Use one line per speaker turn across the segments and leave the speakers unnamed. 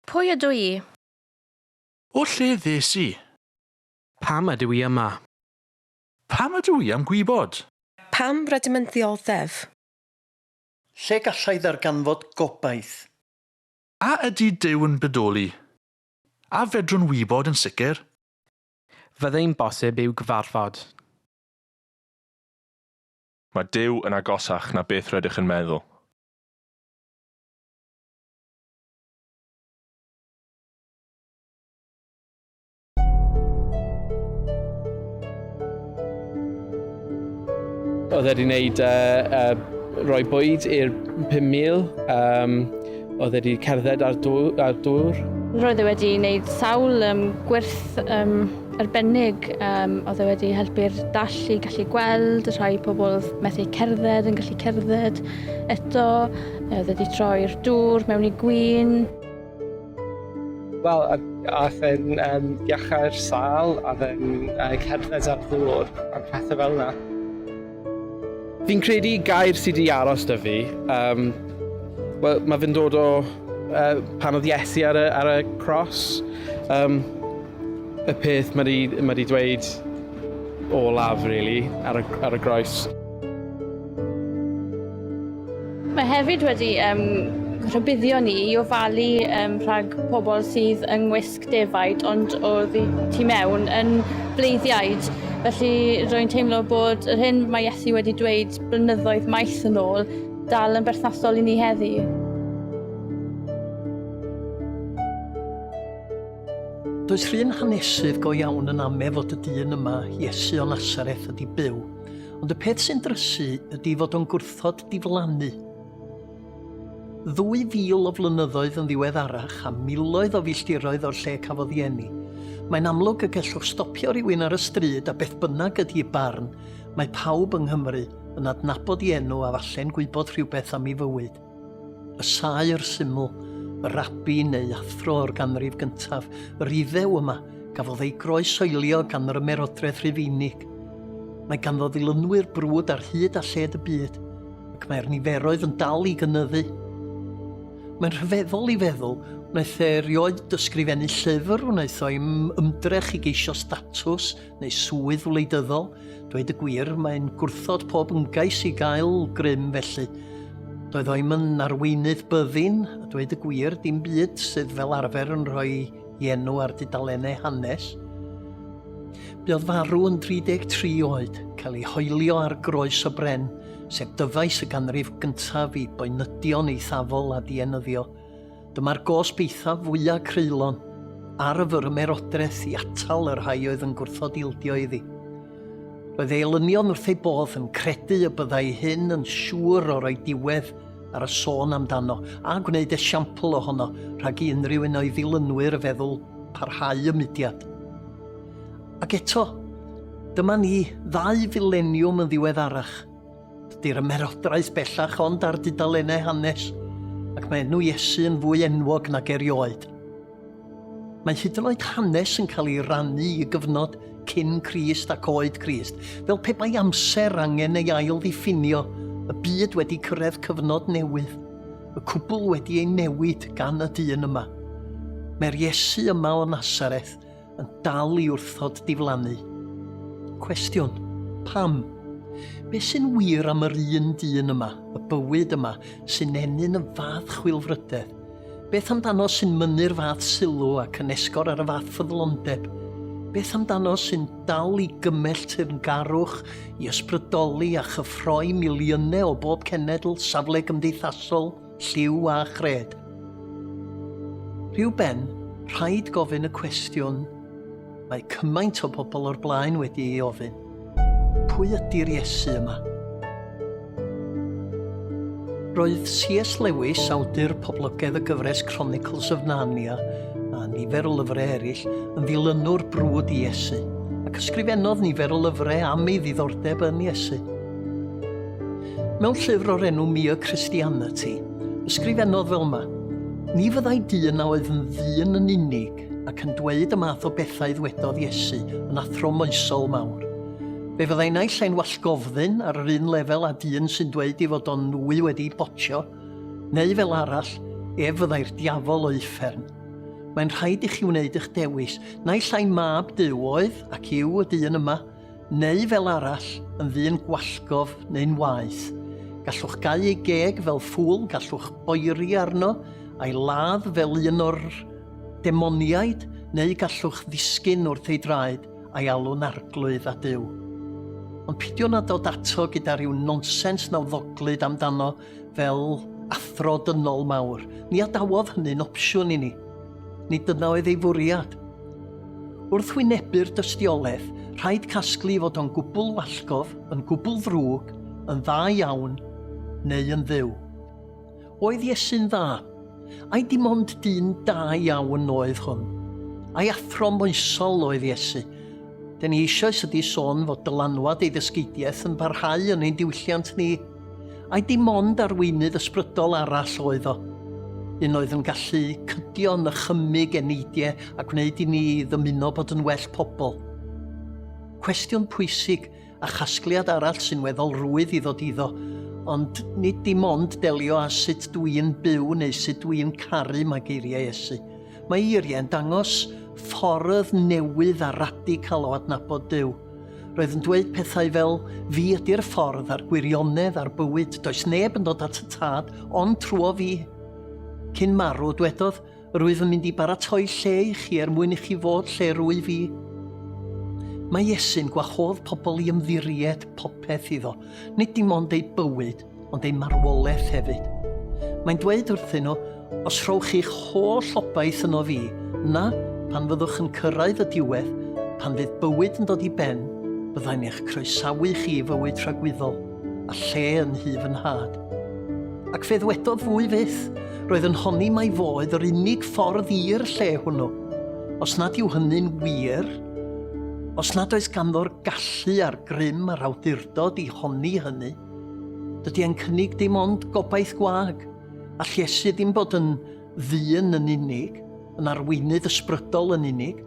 Pwy ydw i?
O lle ddes i? Pam
ydw i yma? Pam
ydw i am gwybod? Pam rydym
yn ddioddef?
Lle galla i ddarganfod gobaith? A
ydy Duw yn bodoli? A fedrwn wybod yn sicr? Fyddai'n
bosib i'w gyfarfod?
Mae Duw yn agosach na beth rydych yn meddwl.
Oedd e 'di 'neud yy yy roi bwyd i'r pum mil yym Oedd wedi cerdded ar dŵr. Ar dŵr. Roedd e wedi
wneud sawl um, gwerth um, arbennig. Um, oedd e wedi helpu'r dall i gallu gweld, rhai pobl methu cerdded yn gallu cerdded eto. Oedd e wedi troi'r dŵr mewn i gwyn.
Wel, aeth e'n um, iachau'r sal, a fe'n uh, cerdded ar ddŵr, a pethau fel yna.
Fi'n credu gair sydd wedi aros da fi, um, well, mae fe'n dod o uh, pan oedd Iesu ar y, ar y cros. Um, y peth mae wedi ma dweud o laf, really, ar y, ar y groes.
Mae hefyd wedi um, rhybuddio ni i ofalu um, rhag pobl sydd yng ngwisg defaid ond oedd y tu mewn yn bleiddiaid. Felly rwy'n teimlo bod yr hyn mae Iesu wedi dweud blynyddoedd maith yn ôl dal yn berthnasol i ni heddi.
Does rhywun hanesydd go iawn yn ame fod y dyn yma, Iesu o Nasareth, ydi byw. Ond y peth sy'n drysu ydi fod o'n gwrthod diflannu. Ddwy fil o flynyddoedd yn ddiweddarach a miloedd o filltiroedd o'r lle cafodd ei eni. Mae'n amlwg y gellwch stopio rhywun ar y stryd a beth bynnag ydi'i barn, mae pawb yng Nghymru yn adnabod ei enw a falle'n gwybod rhywbeth am ei fywyd. Y saer syml, y rabi neu athro o'r ganrif gyntaf, yr Iddew yma, gafodd ei groesoelio gan yr Ymerodraeth Rhufeinig. Mae ganddo ddilynwyr brwd ar hyd a lled y byd. ac mae'r niferoedd yn dal i gynyddu. Mae'n rhyfeddol i feddwl wnaeth e erioed dysgrifennu llyfr, wnaeth o im ymdrech i geisio statws neu swydd wleidyddol. Dweud y gwir, mae'n gwrthod pob ymgais i gael grym felly. Doedd o im yn arweinydd byddin, a dweud y gwir, dim byd sydd fel arfer yn rhoi enw ar dudalennau hanes. Buodd farw yn 33 oed, cael ei hoelio ar groes y bren, sef dyfais y ganrif gyntaf i boenydion eithafol a dienyddio. Dyma'r gosb eithaf fwyaf creulon ar y fyrmerodraeth i atal y rhai oedd yn gwrthod ildio iddi. Roedd ei elynion wrth ei bodd yn credu y byddai hyn yn siŵr o roi diwedd ar y sôn amdano a gwneud esiampl ohono rhag i unrhyw un o'i ddilynwyr feddwl parhau y mudiad. Ac eto, dyma ni, ddau fileniwm yn ddiweddarach. Dydy'r ymerodraeth bellach ond ar dudalennau hanes, ac mae enw Iesu yn fwy enwog nag erioed. Mae hyd yn oed hanes yn cael ei rannu i gyfnod cyn Crist ac oed Crist, fel pe bai amser angen ei ail ddiffinio, y byd wedi cyrraedd cyfnod newydd, y cwbl wedi ei newid gan y dyn yma. Mae'r Iesu yma o Nazareth yn dal i wrthod diflannu. Cwestiwn, pam? Be sy'n wir am yr un dyn yma, y bywyd yma, sy'n ennyn y fath chwilfrydedd? Beth amdano sy'n mynnu'r fath sylw ac yn esgor ar y fath ffyddlondeb? Beth amdano sy'n dal i gymell teyrngarwch i ysbrydoli a chyffroi miliynau o bob cenedl, safle gymdeithasol, Lliw a chred. Rhyw ben, rhaid gofyn y cwestiwn mae cymaint o bobl o'r blaen wedi ei ofyn. Pwy ydy'r Iesu yma? Roedd C.S. Lewis, awdur poblogaidd y gyfres Chronicles of Narnia, a nifer o lyfrau eraill, yn ddilynwr brwd i Iesu, ac ysgrifennodd nifer o lyfrau am ei ddiddordeb yn Iesu. Mewn llyfr o'r enw Mere Christianity, ysgrifennodd fel yma, Ni fyddai dyn a oedd yn ddyn yn unig ac yn dweud y math o bethau ddwedodd Iesu yn athro moesol mawr. Fe fyddai naill ai'n wallgofddyn ar yr un lefel â dyn sy'n dweud ei fod o'n nwy wedi botio, neu fel arall, ef fyddai'r diafol o uffern. Mae'n rhaid i chi wneud eich dewis, naill ai mab Duw oedd ac yw y dyn yma, neu fel arall, yn ddyn gwallgof neu'n waeth. Gallwch gau ei geg fel ffŵl, gallwch oeri arno, a'i ladd fel un o'r demoniaid, neu gallwch ddisgyn wrth ei draed a'i alw'n arglwydd a duw. Ond pidio na dod ato gyda rhyw nonsens nawddoglyd amdano fel athro dynol mawr, ni adawodd hynny'n opsiwn i ni. Nid dyna oedd ei fwriad. Wrth wynebu'r dystiolaeth, rhaid casglu fod o'n gwbl wallgof, yn gwbl ddrwg, yn dda iawn, neu yn dduw. Oedd Iesu'n dda? Ai dim ond dyn da iawn oedd hwn? Ai athro moesol oedd Iesu? Dyn ni eisoes ydi sôn fod dylanwad ei ddysgeidiaeth yn parhau yn ein diwylliant ni, Ai dim ond arweinydd ysbrydol arall oedd o? Un oedd yn gallu cydio, nychymyg, eneidiau a gwneud i ni ddymuno bod yn well pobl. Cwestiwn pwysig a chasgliad arall sy'n weddol rwydd i ddod iddo, ond nid dim ond delio â sut dw i'n byw neu sut dw i'n caru mae geiriau Iesu. Mae eiriau'n dangos ffordd newydd a radical o adnabod Duw. Roedd yn dweud pethau fel, Fi ydy'r ffordd a'r gwirionedd a'r bywyd, does neb yn dod at y tad ond trwo fi. Cyn marw, dwedodd, Rwyf yn mynd i baratoi lle i chi er mwyn i chi fod lle rwyf i. Mae Iesu'n gwahodd pobl i ymddiried popeth iddo, nid dim ond eu bywyd, ond eu marwolaeth hefyd. Mae'n dweud wrthyn nhw, Os rhowch chi'ch holl obaith yno fi, yna, pan fyddwch yn cyrraedd y diwedd, pan fydd bywyd yn dod i ben, byddai'n eich croesawu chi i fywyd tragwyddol, a lle yn nhu fy nhad. Ac fe ddwedodd fwy fyth, roedd yn honni mai fo oedd yr unig ffordd i'r lle hwnnw. Os nad yw hynny'n wir, os nad oes ganddo'r gallu a'r grym a'r awdurdod i honni hynny, Dydy e'n cynnig dim ond gobaith gwag, a llesu ddim bod yn ddyn yn unig, yn arweinydd ysbrydol yn unig,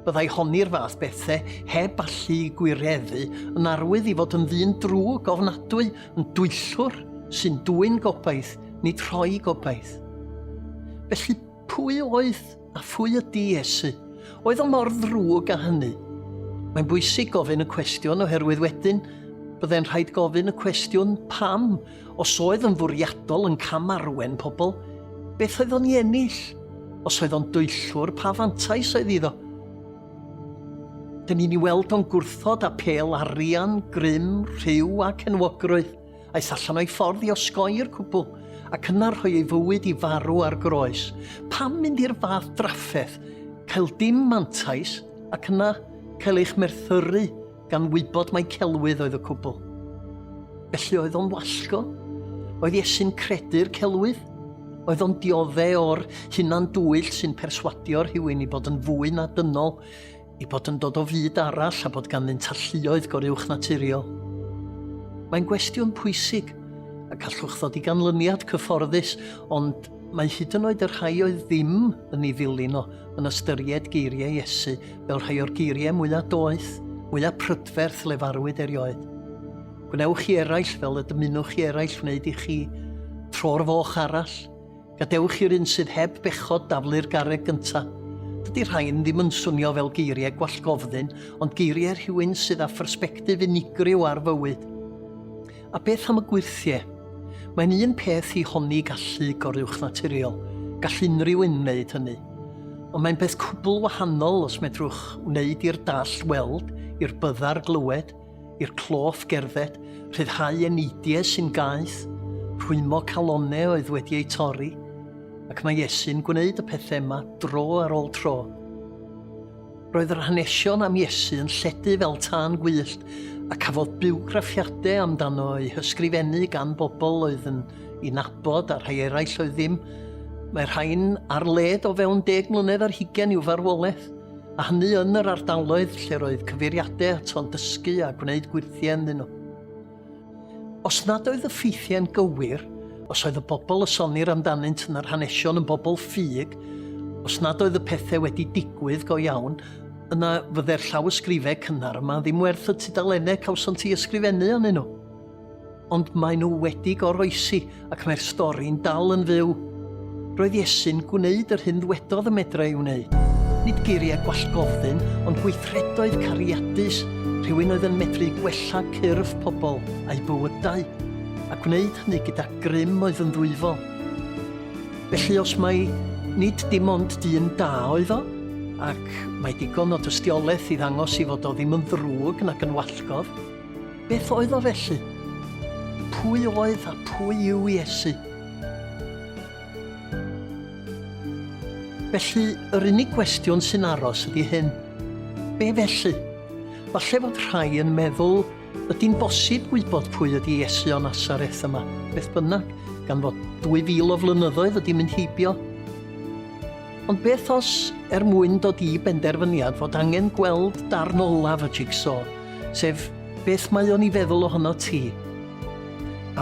byddai honi'r fath bethau heb allu i gwireddu yn arwydd i fod yn ddyn drwg ofnadwy, yn dwyllwr, sy'n dwyn gobaith, nid rhoi gobaith. Felly, pwy oedd A phwy ydy Iesu? Oedd o mor ddrwg â hynny? Mae'n bwysig gofyn y cwestiwn oherwydd wedyn byddai'n rhaid gofyn y cwestiwn pam os oedd yn fwriadol yn cam arwen pobl, beth oedd o'n i ennill? Os oedd o'n dwyllwr, pa fantais oedd iddo? Dyn ni'n ei weld o'n gwrthod apêl arian, grym, rhyw ac enwogrwydd. Aeth allan o'i ffordd i osgoi i'r cwbl, ac yna rhoi ei fywyd i farw ar groes. Pam mynd i'r fath drafferth, cael dim mantais, ac yna cael eich merthyru gan wybod mai celwydd oedd y cwbl? Felly oedd o'n wallgo? Oedd Iesu'n credu'r celwydd? Oedd o'n diodde o'r hunan dwyll sy'n perswadio rhywun i fod yn fwy na dynol i bod yn dod o fyd arall a bod ganddynt alluoedd goruwchnaturiol. Mae'n gwestiwn pwysig, a gallwch ddod i ganlyniad cyfforddus, ond mae hyd yn oed y rhai oedd ddim yn ei ddilyn o yn ystyried geiriau Iesu fel rhai o'r geiriau mwyaf doeth, mwyaf prydferth lefarwyd erioed. Gwnewch chi eraill fel y dymunwch chi eraill wneud i chi, tro'r foch arall, Gadewch i'r un sydd heb bechod daflu'r garreg gynta'. Dydy rhain ddim yn swnio fel geiriau gwallgofddyn, ond geiriau rhywun sydd â phersbectif unigryw ar fywyd. A beth am y gwyrthiau? Mae'n un peth i honni gallu goruwchnaturiol, gall unrhyw un wneud hynny. Ond mae'n beth cwbl wahanol os medrwch wneud i'r dall weld, i'r byddar glywed, i'r cloff gerdded, rhyddhau eneidiau sy'n gaeth, rhwymo calonnau oedd wedi eu torri, ac mae Iesu'n gwneud y pethau yma dro ar ôl tro. Roedd yr hanesion am Iesu yn lledu fel tân gwyllt a cafodd biwgraffiadau amdano ei hysgrifennu gan bobl oedd yn ei nabod a rhai eraill oedd ddim. Mae rhain ar led o fewn deg mlynedd ar hugen i'w farwolaeth. a hynny yn yr ardaloedd lle roedd cyfeiriadau ato'n dysgu a gwneud gwirthiau ynddyn nhw. Os nad oedd y ffeithiau'n gywir, os oedd y bobl y sonir amdanynt yn yr hanesion yn bobl ffug, os nad oedd y pethau wedi digwydd go iawn, yna fydde'r llawysgrifau cynnar yma ddim werth y tudalennau cawsant i ysgrifennu anyn nhw. Ond maen nhw wedi goroesi ac mae'r stori'n dal yn fyw. Roedd Iesu'n gwneud yr hyn ddwedodd y medra ei wneud. Nid geiriau gwallgofn, ond gweithredoedd cariadus, rhywun oedd yn medru gwella cyrff pobl a'u bywydau, a gwneud hynny gyda grym oedd yn ddwyfol. Felly os mai nid dim ond dyn da oedd o, ac mae digon o dystiolaeth i ddangos i fod o ddim yn ddrwg nac yn wallgof, Beth oedd o felly? Pwy oedd a pwy yw Iesu? Felly, yr unig gwestiwn sy'n aros ydy hyn. Be felly? Falle fod rhai yn meddwl ydy'n bosib gwybod pwy ydy Iesu o Nazareth yma, beth bynnag, gan fod 2000 o flynyddoedd wedi mynd heibio. Ond beth os, er mwyn dod i benderfyniad fod angen gweld darn olaf y jigsaw, sef beth mae o'n i feddwl ohono ti?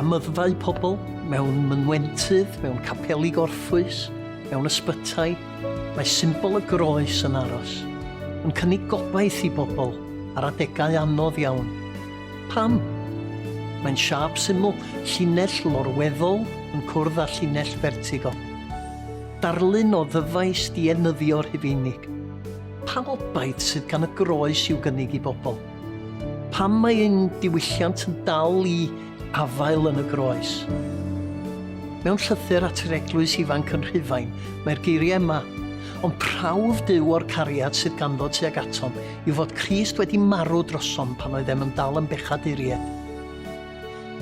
Amyddfau pobl, mewn mynwentydd, mewn capeli gorffwys, mewn ysbytai, mae symbol y groes yn aros, yn cynnig gobaith i bobl ar adegau anodd iawn. Pam? Mae'n siâp syml, llinell lorweddol yn cwrdd â llinell fertigo. Darlun o ddyfais dienyddio Rhufeinig. Pa obaith sydd gan y groes i'w gynnig i bobl? Pam mae ein diwylliant yn dal i afael yn y groes? Mewn llythyr at yr eglwys ifanc yn Rhufain, mae'r geiriau yma, Ond prawf Duw o'r cariad sydd ganddo tuag atom yw fod Crist wedi marw drosom pan oeddem yn dal yn bechaduriaid.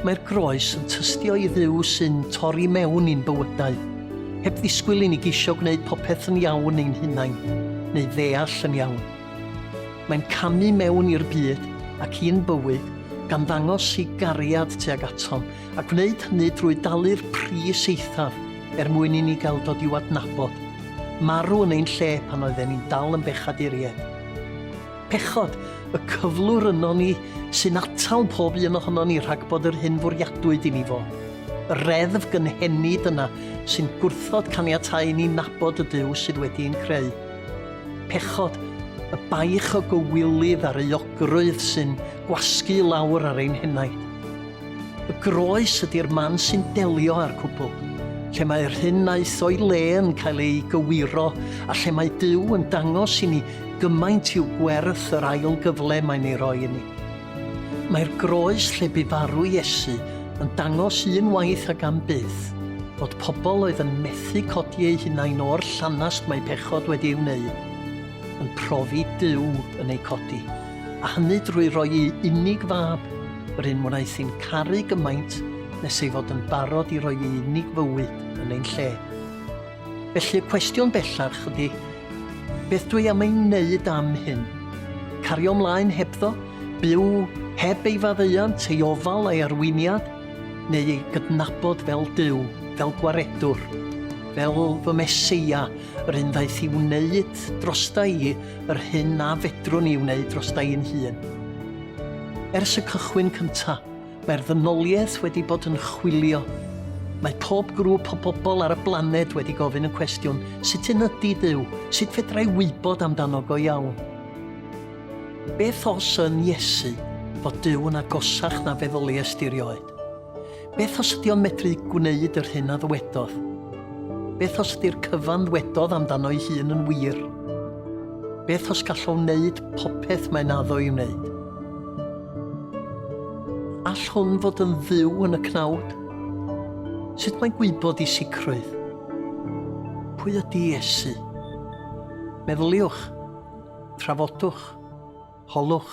Mae'r groes yn tystio i Dduw sy'n torri mewn i'n bywydau, heb ddisgwyl i ni geisio gwneud popeth yn iawn ein hunain, neu ddeall yn iawn. Mae'n camu mewn i'r byd ac i'n bywyd gan ddangos ei gariad tuag atom, a gwneud hynny drwy dalu'r pris eithaf er mwyn i ni gael dod i'w adnabod, marw yn ein lle pan oedden ni'n dal yn bechaduriaid. Pechod, y cyflwr yno ni, sy'n atal pob un ohono ni rhag bod yr hyn fwriadwyd i ni fod. Y reddf gynhenid yna sy'n gwrthod caniatáu i ni nabod y Duw sydd wedi ein creu. Pechod, y baich o gywilydd a'r euogrwydd sy'n gwasgu i lawr ar ein henaid. Y groes ydy'r man sy'n delio â'r cwbl, lle mae'r hyn aeth o'i le yn cael ei gywiro a lle mae Duw yn dangos i ni gymaint i'w gwerth yr ail gyfle mae'n ei roi i ni. Mae'r groes lle bu farw Iesu yn dangos un waith ac am byth fod pobl oedd yn methu codi eu hunain o'r llanast mae pechod wedi ei wneud yn profi Duw yn eu codi. a hynny drwy roi'i unig fab, yr un wnaeth hi'n caru gymaint nes ei fod yn barod i roi ei unig fywyd yn ein lle. Felly y cwestiwn bellach ydy, beth dwi am ei wneud am hyn? Cario ymlaen hebddo? Byw heb ei faddeuant, ei ofal, ei arweiniad? Neu ei gydnabod fel Duw, fel gwaredwr, fel fy Meseia, yr un ddaeth i wneud drosta i yr hyn na fedrwn i wneud dros da i'n hun. Ers y cychwyn cynta, mae'r ddynoliaeth wedi bod yn chwilio. Mae pob grŵp o bobl ar y blaned wedi gofyn y cwestiwn, sut yn ydy Duw? Sut fedra i wybod amdano go iawn? Beth os yn Iesu fod Duw yn agosach na feddyliaist i rioed? Beth os ydi o'n medru gwneud yr hyn a ddywedodd? Beth os ydi'r cyfan ddwedodd amdano'i hun yn wir? Beth os gall o wneud popeth mae'n addo i wneud? All hwn fod yn dduw yn y cnawd? Sut mae'n gwybod i sicrwydd? Pwy ydi Iesu? Meddyliwch, trafodwch, holwch.